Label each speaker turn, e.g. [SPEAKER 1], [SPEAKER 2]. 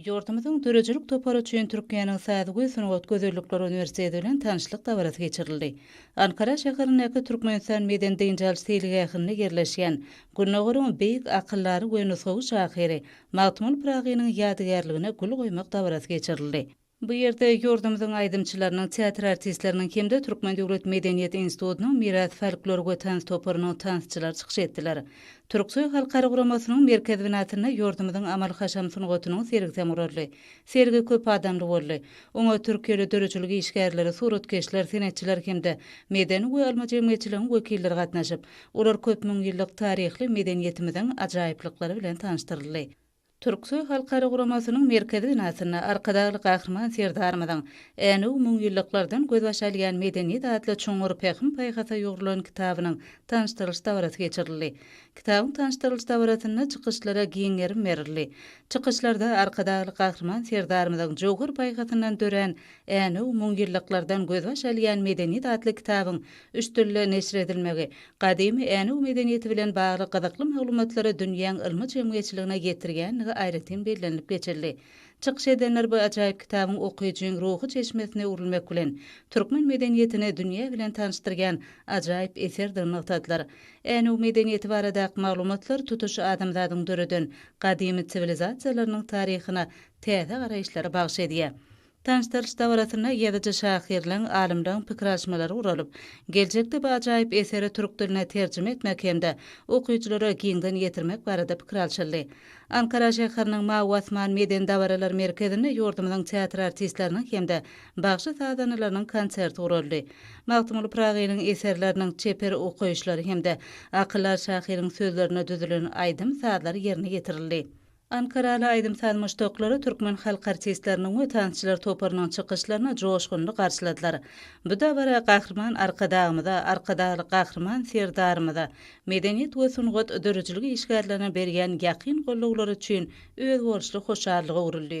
[SPEAKER 1] Ýurdumyzyň döredijilik topary üçin Türkiýäniň Saz we sungat gözellikleri uniwersiteti bilen tanyşlyk dabarasy geçirildi. Ankara şäherindäki Türkmenistan medeni-dynç alyş seýilgähinde ýerleşýän Gündogaryň beýik akyldary we nusgawy şahyry Magtymguly Pyragynyň ýadygärligine gül goýmak dabarasy geçirildi. Bu ýerde ýurdumyzyň aýdymçylarynyň, teatr artistleriniň hem-de Türkmen döwlet medeniýet institutynyň Miras folklor we tans toparynyň tansçylary çykyş etdiler. Türksoý halkara guramasynyň merkez binasynda ýurdumyzyň amal-haşam sungatynyň sergisi hem guraldy. Sergi köp adamly boldy. Oňa türkiýeli döredijilik işgärleri, suratkeşler, senetçiler hem-de medeni we ylmy jemgyýetçiligiň wekilleri gatnaşyp, olar köp müň ýyllyk taryhly medeniýetimiziň ajaýyplyklary bilen tanyşdyryldy. Türksöý halkara guramasynyň merkezi binasynda Arkadagly Gahryman Serdarymyzyň Änew müňýyllyklardan gözbaş alýan medeniýet atly çuňňur pähim-paýhasa ýugrulan kitabynyň tanyşdyrylyş dabarasy geçirildi. Kitabyň tanyşdyrylyş dabarasynda çykyşlara giň gerim berildi. Çykyşlarda Arkadagly Gahryman Serdarymyzyň jöwher paýhasyndan dörän Änew müňýyllyklardan gözbaş alýan medeniýet atly kitabyň Üç dilde neşir edilmegi, gadymy Änew medeniýeti bilen bagly gyzykly maglumatlary dünýäň ylmy jemgyýetçiligine ýetirýändigi aýratyn bellenilip geçildi. Çykyş edenler bu ajaýyp kitabyň okyjyň ruhy çeşmesine öwrülmek bilen, türkmen medeniýetini dünýä bilen tanyşdyrýan ajaýyp eserdigini nygtadylar. Änew medeniýeti baradaky maglumatlar tutuş adamzadyň döreden gadymy siwilizasiýalarynyň taryhyna täze garaýyşlary bagyş edýär. Tanyşdyryş dabarasynda ýazyjy şahyrlaň, alymlaň pikir alyşmalary guralyp, geljekde bu ajaýyp eseri türk diline terjime etmek hem-de okyjylara giňden ýetirmek barada pikir alşyldy. Ankara şäheriniň Mawy asman medeni dabaralar merkezinde ýurdumyzyň teatr artistleriniň hem-de bagşy-sazandalarynyň konserti guraldy. Magtymguly Pyragynyň eserleriniň çeper okaýyşlary hem-de akyllar şahyryň sözlerine düzülen aýdym-sazlar ýerine ýetirildi. Ankaraly aýdym-saz muşdaklary türkmen halk artistleriniň we tansçylar toparynyň çykyşlaryny joşgunly garşyladylar. Bu dabara Gahryman Arkadagymyza, Arkadagly Gahryman Serdarymyza, medeniýet we sungat dörüjilik işgärlerine berýän ýakyn gollawlary üçin özboluşly hoşallyk öwrüldi.